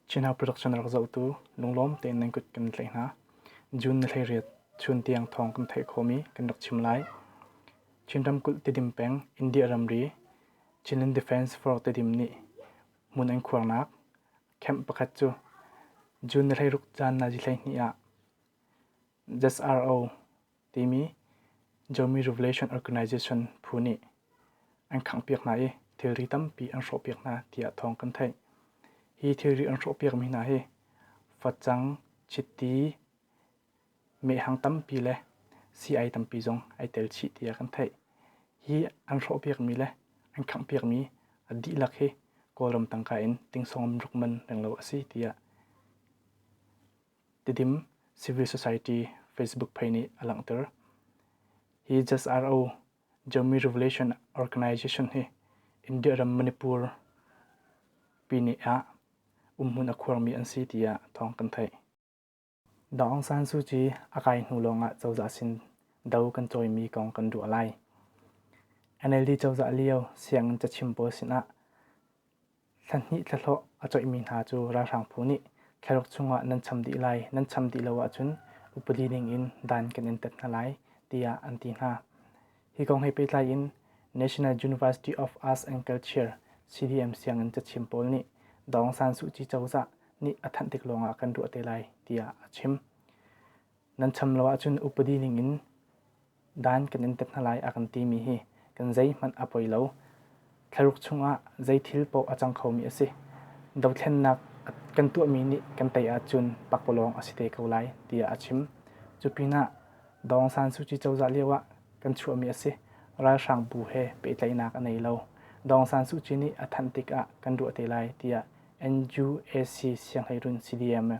Chinhau production rak zohtu lunglawm tein nan kut kan tlaih hna. June ni hleiriat chun tiang thawng kan theih khawhmi kan rak chim lai. Chin ramkulh Tedim peng India ramri Chinland Defence Force Tedim nih hmun an khuarnak camp pakhat cu June ni hleiruk caan nazi hleihnih ah ZRO timi Zomi Revelation Organization phu nih an khanghpiak hna i thilri tampi an hrawhpiak hna tiah thawng kan theih. Hi thilri an hrawhpiakmi hna hi facang, chiti, mehhang tampi le sii-ai tampi zong ai tel chih tiah kan theih. Hi an hrawhpiakmi le an khanghpiakmi a dihlak hi Kawlram tangka in tingsawm ruk man lenglo a si tiah Tidim Civil Society Facebook page nih a langhter. Hi JSRO Jammi Revelation Organization hi India ram Manipur pini ah umhmun a khuarmi an si tiah thawng kan theih. Dang Aung San Suu Kyi a kai hnu lawngah cozah sin do kan cawimi kong kan ruah lai. NLD cozah lio sianginn cachim pawl sinah Thlahnih thlahlawh a coihmi hna cu ralhrang phu nih kherok chungah nan cham dih lai, nan cham dih lo ahcun upadi ningin dan kan in tat hna lai tiah an ti hna. Hi kong he pehtlai in National University of Arts and Culture CDM sianginn cachim pawl nih Dawng San Suu Kyi cozah nih a thanh tik lawngah kan ruah te lai tiah a chim. nan cham lo ahcun upadi ningin dan kan in tat hna lai a kan timi hi kan zeihmanh a poi lo. Thlaruk chungah zeithil paoh a cang khomi a si. Dothlennak kan tuahmi nih kan tei ahcun pakpalawng a si te ko lai tiah a chim. Cu pinah Dawng San Suu Kyi cozah lioah kan chuahmi a si. Ralhrang bu he pehtlaihnak a nei lo. Dawng San Suu Kyi nih a thanh tikah kan ruah te lai tiah NUAC sianghlei run CDM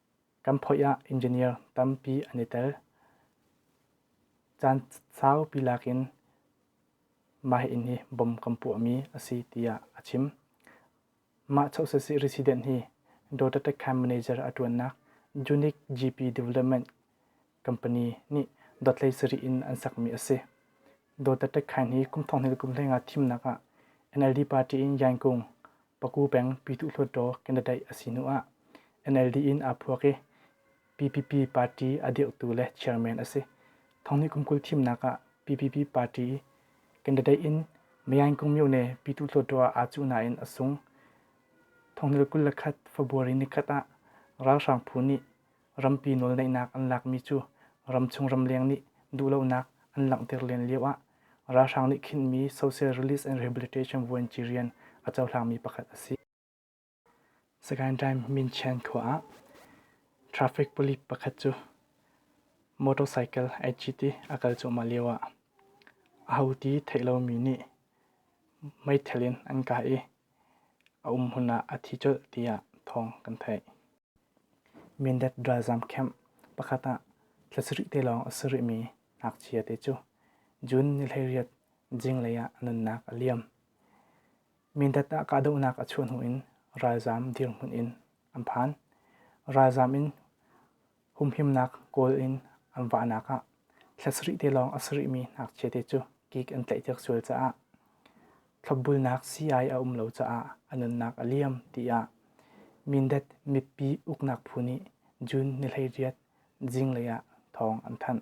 Kan phoih ah engineer tampi an i tel. Caan saupi lakin mah inn hi bom kan puahmi a si tiah a chim. Mah chosesi resident hi Dototech camp manager a ṭuannak Unique GP Development Company nih dotlei sarih in an sakmi a si. Dototech khan hi kum thong hnih le kum hleng ah thimnak ah NLD party in Yan Kung Paku peng Pyituh Hluttaw candidate a si hnu ah NLD in aa phuak i PPP party a dirhtu le chairman a si. Thonghni kum kul thimnak ah PPP party candidate in Mayaing Kungmyone Pyituh Hluttaw ah aa cuh nain a sung. Thonghni le kul le khat February ni khat ah ralhrang phu nih rampi nawlneihnak an lakmi cu ramchung ramleng nih duhlonak an langhter len lioah ralhrang nih khinhmi Social Release and Rehabilitation vuanci rian a cohlangmi pakhat a si. Sagaing Time Min Chan khua ah traffic police pakhat cu motorcycle HGT a kal cuahmah lioah aho ti theih lomi nih meithal in an kah i a um hmun ah a thi colh tiah thawng kan theih. Mindat ralzam camp pakhat ah thla sarih te lawng a si rihmi ngakchia te cu June ni hleiriat zinglei ah nunnak a liam. Mindat ah kahdohnak a chuah hnu in ralzam dirhmun in an phan. Ralzam in humhimnak kawl in an vahnak ah thla sarih te lawng a sarihmi ngakchia te cu gig an tlaihpiak sual caah thlopbulnak sii-ai a um lo caah a nunnak a liam tiah Mindat mipi uknak phu nih June ni hleiriat zinglei ah thawng an thanh.